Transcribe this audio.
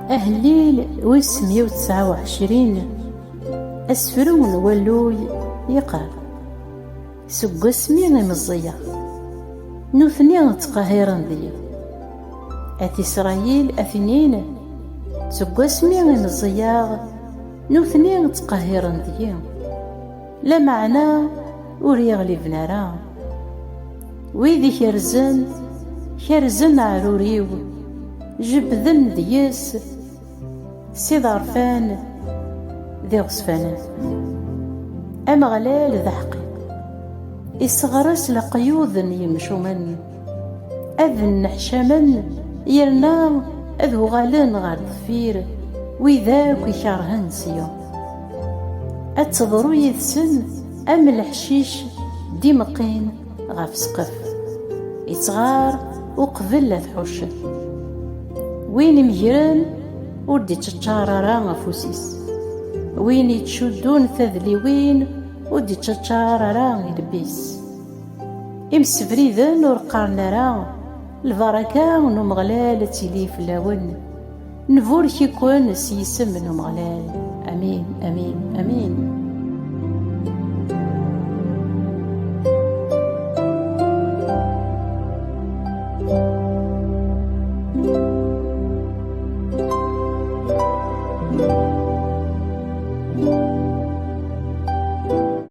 Ahellil wis mya u tesɛa u ɛecrin Asefru n walluy yeqqar Seg wasmi i meẓẓiyeɣ Nutni ttqehhiren deg-i At Isṛayil a t-inin Seg wasmi i meẓẓiyeɣ Nutni ttqehhiren deg-i Lameɛna ur yi-ɣliben ara. Wid i kerzen, kerzen aɛrur-iw, jebbden deg-s s iḍerfan d iɣezfanen. Ameɣlal d aḥeqqi, isseɣres leqyud n yimcumen. ad nneḥcamen yerna ad uɣalen ɣer deffir wid akk ikerhen sya ad teḍru yid-sen am leḥcic d-imeqqin ɣef ssqef ittɣar uqbel ad ḥuccen win imegren ur d-iččaččar ara afus-is win ittcuddun tadliwin ur d-iččaččar ara ilbis. Imsebriden ur qqaren ara, Lbaraka n Umeɣlal ad tili fell-awen. Nburek-iken s yisem n Umeɣlal. Amin, amin, amin.